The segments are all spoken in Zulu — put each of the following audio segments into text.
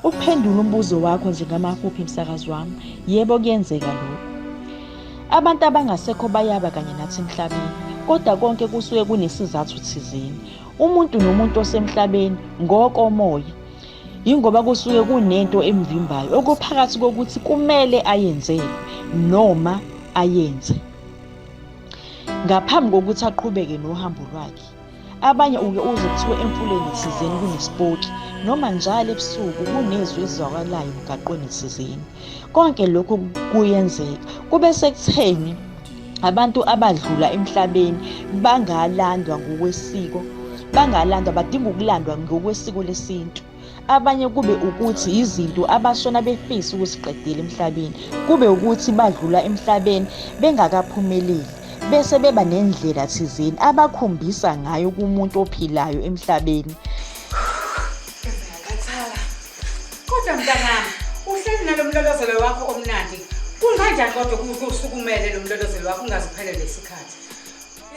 Ukuphendula umbuzo wakho nje ngamafuphi msakazi wami, yebo kuyenzeka lokho. Abantu abangasekho bayaba kanye nathi emhlabeni, kodwa konke kusuke kunesizathu thizeni. Umuntu nomuntu osemhlabeni ngokomoya yingoba kusuke kunento emvimbayo okuphakathi kokuthi kumele ayenzele noma ayenze. Ngaphambi kokuthi aqhubeke nohambo lwakhe, abanye uke uze kuthiwe emfuleni thizeni kunesipoki noma njalo ebusuku kunezwi ezizwakalayo emgaqweni thizeni. Konke lokhu kuyenzeka kube sekutheni abantu abadlula emhlabeni bangalandwa ngokwesiko bangalandwa badinga ukulandwa ngokwesiko lesintu. abanye kube ukuthi yizinto abashona befisa ukusiqedela emhlabeni kube ukuthi badlula emhlabeni bengakaphumeleli bese beba nendlela thizeni abakhombisa ngayo kumuntu ophilayo emhlabeni kodwa mntanami uhleli nalo mlolozelo wakho omnandi kunganjani kodwa kusukumele lo mlolozelo wakho ungaziphelele isikhathi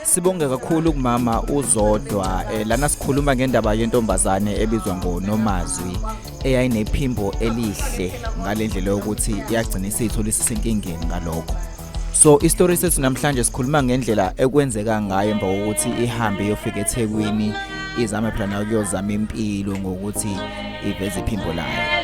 sibonge kakhulu kumama uzodwa eh, lana sikhuluma ngendaba yentombazane ebizwa ngonomazwi eyayinephimbo elihle ngale ndlela yokuthi yagcina isiyithola isisenkingeni ngalokho so isitori sethu namhlanje sikhuluma ngendlela ekwenzeka ngayo emva kokuthi ihambe iyofika ethekwini izame phela nayo kuyozama impilo ngokuthi iveze iphimbo layo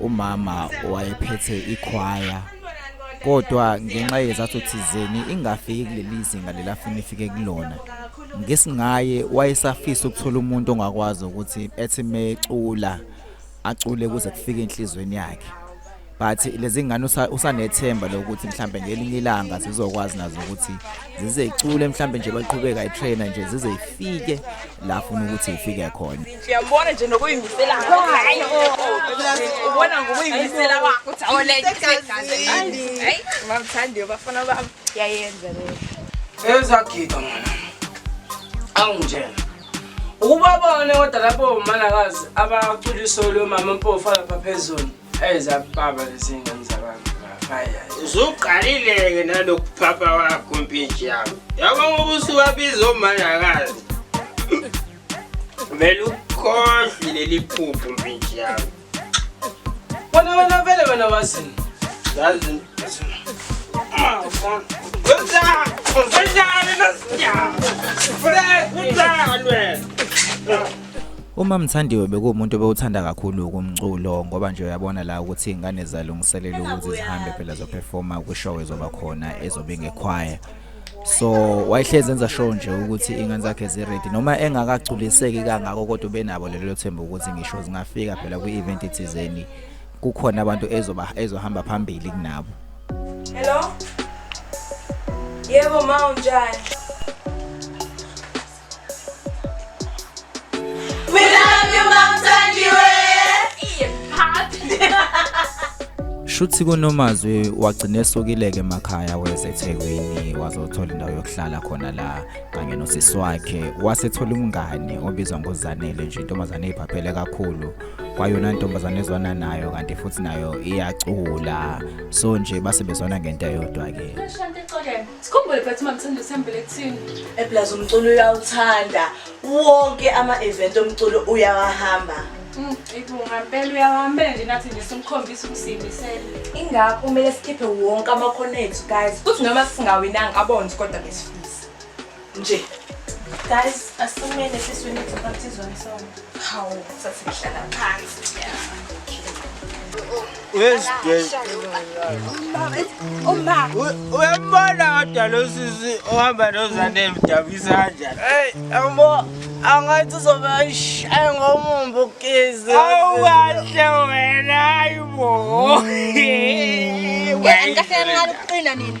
umama wayephethe ikhwaya kodwa ngenxa yezathu thizeni ingafiki kuleli zinga lelafuna ifike kulona ngesingaye wayesafisa ukuthola umuntu ongakwazi ukuthi ethi mecula acule kuze kufike enhlizweni yakhe but lezi ngane usanethemba lokuthi mhlambe ngelinye ilanga zizokwazi nazo ukuthi zizecule mhlambe nje baqhubeka itrainer nje zizeyifike la funa ukuthi ifike khona Siyambona nje nokuyimisela hayi ubona ngokuyimisela kwakho uthi awoleke hayi mamthandiyo bafana bami yayenza leyo ezagida mona awungitshela ukuba bone kodwa lapho umalakazi abaculiso lomama mpofu alapha phezulu ezababa lezingane zabantu uzuqalile-ke nalokuphapha wakho mpintshi yabo yabo ngoba usuwabiza omalakazi Vele ukhohlwe leli phuphu mfethu yami. Wena wena vele wena wazini. Yazi. Ah, ufona. Wenzani? Wenzani nasinyama? Fred, wenzani wena? Uma Mthandiwe bekuwumuntu obewuthanda kakhulu ukumculo ngoba nje uyabona la ukuthi ingane zalungiselela ukuthi zihambe phela zoperforma kwishow ezoba khona ezobe ngekhwaya so wayehlezi enza show nje ukuthi ingane zakhe ziready noma engakagculiseki kangako kodwa ubenabo lelo themba ukuthi ngisho zingafika phela kwi-event ethizeni kukhona abantu ezoba ezohamba phambili kunabo hello yebo ma unjani shuthi kunomazwi wagcina esukile-ke emakhaya weza ethekwini wazothola indawo yokuhlala khona la kanye nosisi wakhe wasethola umngani obizwa ngozanele nje intombazane eyiphaphele kakhulu kwayona ntombazane ezwana nayo kanti futhi nayo iyacula so nje basebezwana ngento eyodwa-ke Sikhumbule bathi mamthanda usembele kuthini. Eplaza umculo uyawuthanda. Wonke ama-event omculo uyawahamba. Mm, Ibunga mpela uyawahambela nje nathi nje simkhombisa ukusiyimisela. Ingakho kumele sikhiphe wonke amakhono ethu guys. Kuthi noma singawinanga abonzi kodwa besifisa. nje guys asimele siswini sibaptizwa ngesonto hawu sasihlala phansi uyambona kodwa lo sisi ohamba nozane emdabisa kanjani eyi yambo angathi uzobe ayishaye ngomumbu ukizi awukahle wena ayibo mm. kahle kancane ukuqina nini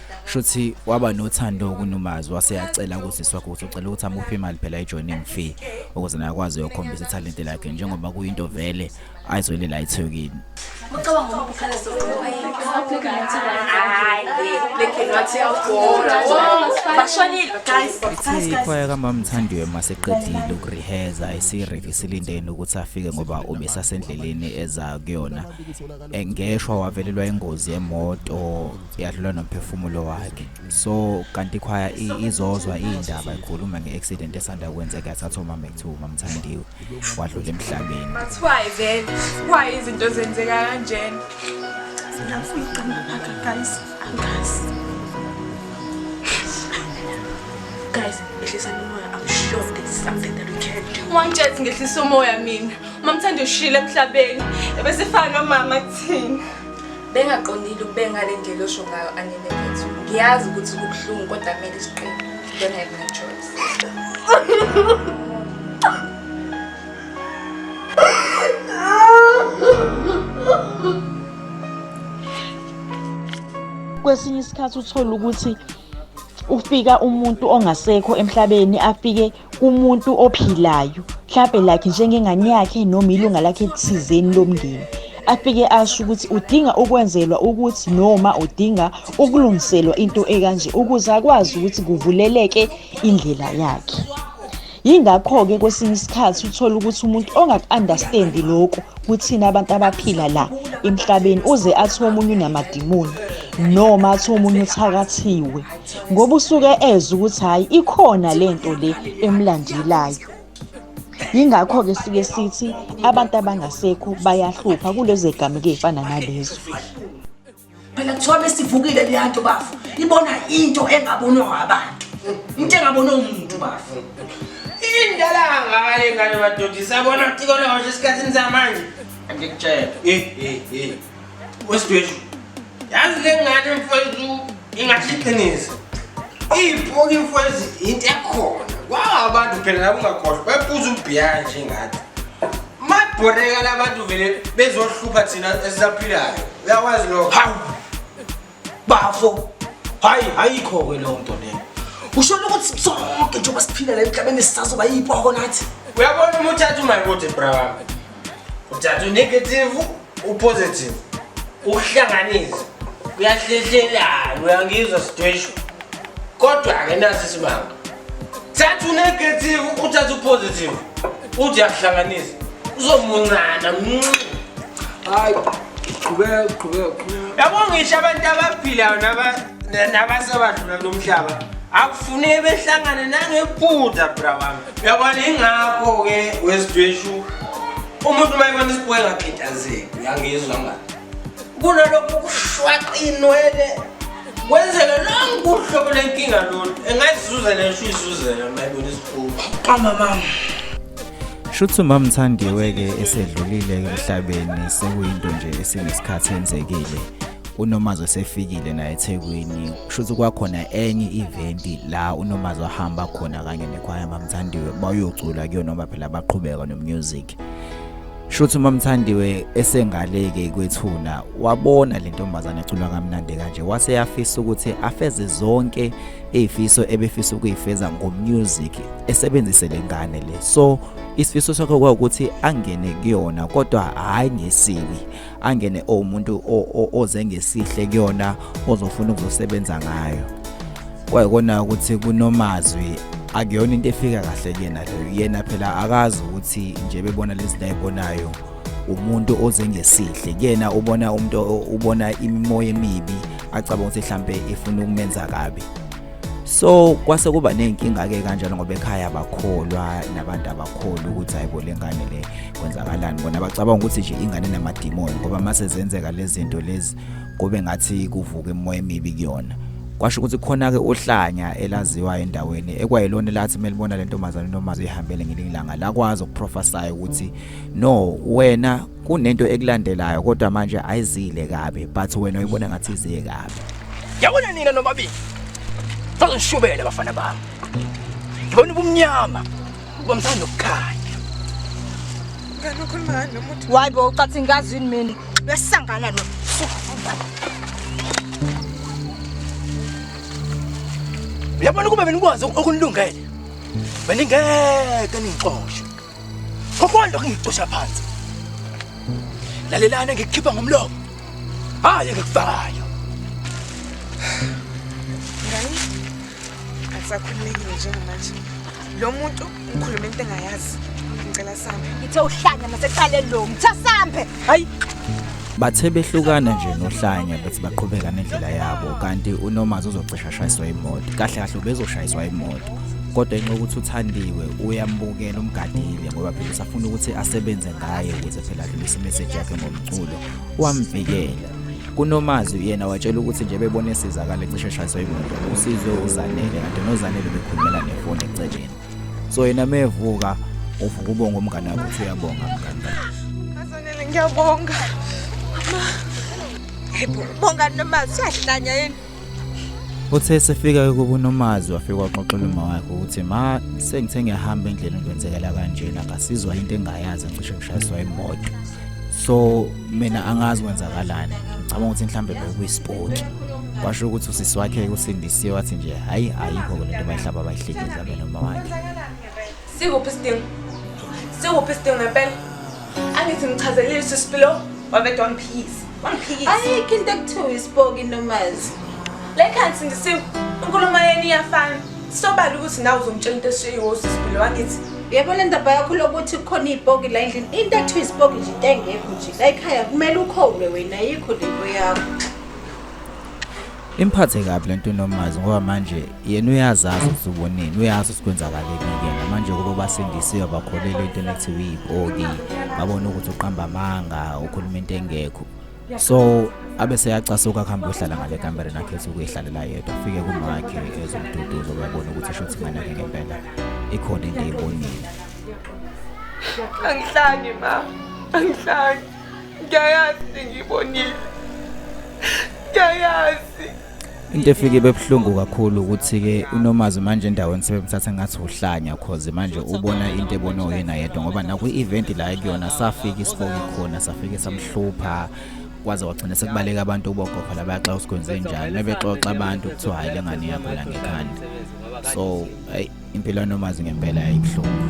shuthi waba nothando kunumazi waseyacela ukuthi swakuthi ucela ukuthi amuphe imali phela ejoining fee ukuze naye akwazi ukukhombisa italent lakhe njengoba kuyinto vele ayizwele la ithekini ucabanga ngoba ukhale soqobo ikhwaya kamamthandiwe maseqedile ukureheza isireve silindeni ukuthi afike ngoba ubesasendleleni eza kuyona eh, ngeshwa wavelelwa ingozi yemoto yadlula nomphefumulo wakhe so kanti ikhwaya izozwa iyindaba ikhuluma ngeaccident esanda kwenzeka yathatha umama ekuthiwa umamthandiwe wadlula emhlabeni mathiwayi vele kwayi izinto zenzeka kanjena ngiyafuna uqamba phakha guys angazi guys ehlisa umoya i'm sure there's something that we can do wangitshela ukuthi ngehlisa umoya mina Mamthanda ushile emhlabeni ebesifana nomama kuthina. Bengaqondile ukube ngale ndlela osho ngayo anene kethu. Ngiyazi ukuthi kubuhlungu kodwa kumele siqine. Don't have no choice. Kwesinye isikhathi uthola ukuthi ufika umuntu ongasekho emhlabeni afike kumuntu ophilayo mhlampe like njengengane yakhe noma ilunga lakhe thizeni lomndeni afike asho ukuthi udinga ukwenzelwa ukuthi noma udinga ukulungiselwa into ekanje ukuze akwazi ukuthi kuvuleleke indlela yakhe yingakho-ke kwesinye isikhathi uthole ukuthi umuntu ongaku-understandi lokhu kuthina abantu abaphila la emhlabeni uze athi omunye unamadimoni noma athi omunye uthakathiwe ngoba usuke eze ukuthi hhayi ikhona le nto le emlandelayo yingakho-ke sike sithi abantu abangasekho bayahlupha kulezo egameke ey'fana nalezo phela kuthiwa besivukile leya nto bafo ibona into engabonwa abantu into engabonwa umuntu bafo indala kangakale ngane madoda isabona kuthi kona washo esikhathini samanje angikutshela wesidweshu yazi le ngane mfwezi ingathi iqiniso iyiphoka imfwezi yinto ekhona kwaba abantu phela labo ungakhohlwa babuza ubhiya nje ngathi mabhoreka labantu vele bezohlupha thina esisaphilayo uyawazi lokho bafo hayi ayikho-ke leyo nto leyo ushona ukuthi sonke njengoba siphila la emhlabeni sisazoba yipoko nathi uyabona uma uthatha umayikuthi bra wami uthatha unegative upositive ukuhlanganisa kuyahlehlelana uyangizwa sidweshu kodwa-ke nasi isimanga thatha unegative uthathe upositive uthi yahlanganisa uzomuncana hayi qhubeka qhubeka yabo ngisho abantu abaphilayo nabasebadlula kulo mhlaba akufuneki behlangane nangephutha bra wami uyabona ingakho-ke wesidweshu umuntu uma ebona isibuyengakhidazi uyangizwa ngani kunalokhu kushwaqa inwele kwenzeka lonke uhlobo lenkinga lolu engazizuzela ngisho izuzela mayibona isikhulu kamama shuthi umama mthandiwe-ke esedlulile emhlabeni sekuyinto nje esinesikhathi enzekile unomazi osefikile naye ethekwini shuthi kwakhona enye i-eventi la unomazi ohamba khona kanye nekhwaya mamthandiwe bayocula kuyona noma phela baqhubeka nomusic Shuthi umamthandiwe esengaleke kwethuna wabona le ntombazane ecula kamnandi kanje wase yafisa ukuthi afeze zonke izifiso ebefisa ukuyifeza ngomusic esebenzise lengane le so isifiso sakhe kwawukuthi angene kuyona kodwa hayi ngesibi angene owumuntu oze ngesihle kuyona ozofuna ukuzosebenza ngayo kwayikona ukuthi kunomazwi akuyona into efika kahle kuyena leyo yena phela akazi ukuthi nje bebona lezi zinto ayibonayo umuntu oze ngesihle kuyena ubona umuntu ubona imimoya emibi acabanga ukuthi mhlampe ifuna ukumenza kabi so kwase kuba nenkinga ke kanjalo ngoba ekhaya bakholwa nabantu abakholwa ukuthi hayibo lengane le kwenzakalani bona bacabanga ukuthi nje ingane namadimoni ngoba mase zenzeka lezinto lezi kube ngathi kuvuka emoya emibi kuyona kwasho ukuthi khona ke ohlanya elaziwa endaweni ekwayilona lathi melibona lentombazane nomazi ihambele ngelingilanga lakwazi ukuprofesaya ukuthi no wena kunento ekulandelayo kodwa manje ayizile kabi but wena uyibona ngathi iziye kabi yabona nina nomabili sazonishubela bafana bami ngibona ubumnyama Ubamthanda ukukhanya. Ngani ukhuluma ngani nomuntu? Why bo ucathi ngazi yini mina? Besangana no. Uyabona ukuba benikwazi okunilungele. Beningeke ningixoshe. Kokwanda kungixosha phansi. Lalelana ngikukhipha ngomlomo. Hayi ngikufakayo. Akusakhululekile njengamanje. Lo muntu ngikhuluma into engayazi. Ngicela sambe. Ngithe uhlanya maseqaleni lo. Ngithe sambe. Hayi. Bathe behlukana nje nohlanya bethi baqhubeka nendlela yabo kanti uNomazi uzocisha shayiswa imoto. Kahle kahle ubezoshayiswa imoto. Kodwa enxa ukuthi uthandiwe uyambukela umgadile ngoba phela usafuna ukuthi asebenze ngaye ukuze phela adlulise imessage yakhe ngomculo. Wamvikela. kunomazwi yena watshela ukuthi nje bebona esizakala ecishe eshayiswa imoto usizwe uzanele kanti nozanele bekhulumela nefoni eceleni so yena mevuka uvuka ubonga umngane wakho uthi uyabonga mngane azanele ngiyabonga Hey, bonga nomazwi siyahlanya yini Uthe esefika kubo uNomazi wafika waxoxela uma wakhe ukuthi ma sengithe ngiyahamba endleleni kwenzekela kanjena ngasizwa into engayazi ngisho ngishayiswa imoto so mina angazi kwenzakalani ngicabanga ukuthi mhlambe bekuyisipoti washo ukuthi usisi wakhe usindisiwe wathi nje hayi ayikho le nto bayihlaba bayihlekisa bena uma wakhe sikuphi isidingo sikuphi isidingo ngempela Angithi ngichazelile sisipilo wabedwa wamphikisa. Wamphikisa. Ayikho into ekuthiwa isipoki nomazi. Le khansi ngisi inkulumo yenu iyafana. Sobala ukuthi nawe uzomtshela into eshiyiwo sisipilo wangithi. Yebo le ndaba yakho lokuthi kukhona izipoki la endlini. Into ekuthiwa isipoki nje into engekho nje. La ekhaya kumele ukhowule wena ayikho lento yakho. Imphathe kabi lento uNomazi ngoba manje yena uyazazi ukuthi ubonini uyazi sikwenzakalekike manje kuba basindisiwe bakholelwa into enethi uyibhodi babona ukuthi uqamba amanga ukhuluma into engekho so abe seyacasuka kuhamba uhlala ngale kamereni akhe ethi ukuyihlalela yedwa afike kumakhe ezomduduzo uyabona ukuthi shuthi ingane yakhe ngempela ikhona into eyibonile angihlangi ma angihlangi ngiyayazi ngiyibonile ngiyayazi into efike bebuhlungu kakhulu ukuthi ke unomazi manje endaweni sebemthatha ngathi uhlanya cause manje ubona into ebona uyena yedwa ngoba nakwi event la kuyona safika isiboki khona safike samhlupha kwaze wagcina sekubaleka abantu ubogogo la bayaxa usikwenze njani mebexoxa abantu kuthiwa hayi lengane yakho la ngekhanda so hey impilo yanomazi ngempela yayibuhlungu